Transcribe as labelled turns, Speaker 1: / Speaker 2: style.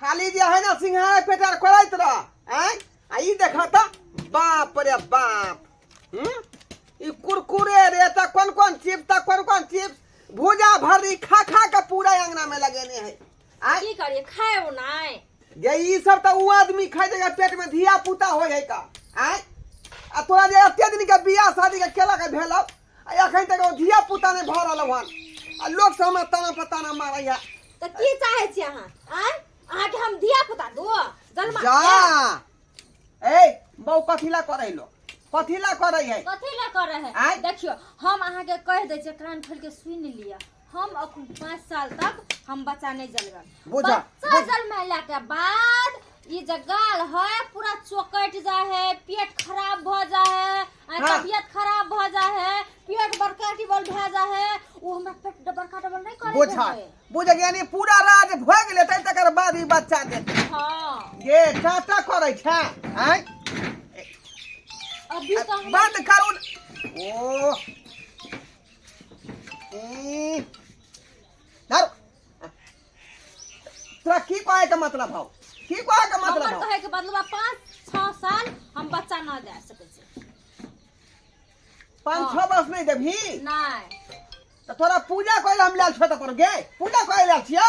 Speaker 1: खाली जे
Speaker 2: है ना सिंघारा पेटर करैत रह आँय आ ई देख तऽ बाप रे बाप हम्म? ई कुरकुरे रे तऽ कोन कोन चिप्स तऽ कोन कोन चिप्स भूजा भर्री खा खा के पूरा अंगना में लगेने है आँय की करिए खाए हो
Speaker 1: नहीं जे ई सब
Speaker 2: तऽ ऊ आदमी खाइ छै जे पेट में धिया पुता होइ है का आँय आ तोरा जे एते दिन के बियाह शादी के केला के भेलौ आ एखन तक ओ धिया पुता नहि भऽ रहल हन आ लोक सब हमरा ताना पर ताना मारैया तऽ की चाहै
Speaker 1: छी अहाँ आँय अहाँके हम धिया पुता दू जन्मा जा
Speaker 2: के? ए बौ कथी ला करै लो कथी ला करै है कथी लए करै
Speaker 1: आँय? है देखियो हम
Speaker 2: अहाँके
Speaker 1: कहि दै छियै कान खोलि के सुनि लिअ हम अखन पाँच साल तक हम बच्चा नहीं जलगा बुझा बच्चा
Speaker 2: जलमैला
Speaker 1: के बाद ई जे गाल है पूरा चौकट जा है पेट खराब भ जा है आ हाँ। तबियत खराब
Speaker 2: भ
Speaker 1: जा है पेट बड़का डबल भ जा है वो हमरा पेट बड़का डबल नहीं करे बुझा है बुझा
Speaker 2: यानी पूरा राज भ गेले तै तकर बाद ई बच्चा दे हां ये
Speaker 1: चाटा
Speaker 2: करे छै हैं
Speaker 1: अभी तो हम बंद करू
Speaker 2: ओ तोरा की कहे के मतलब हौ की कहे के मतलब हमर हौ कहे के बदलवा
Speaker 1: पाँच छः साल हम बच्चा ना दे सके छी पाँच
Speaker 2: छः वर्ष नहीं देबही नहीं
Speaker 1: तो तोरा
Speaker 2: पूजा करे हम लाल छोटा पर गे पूजा करे लाल छियो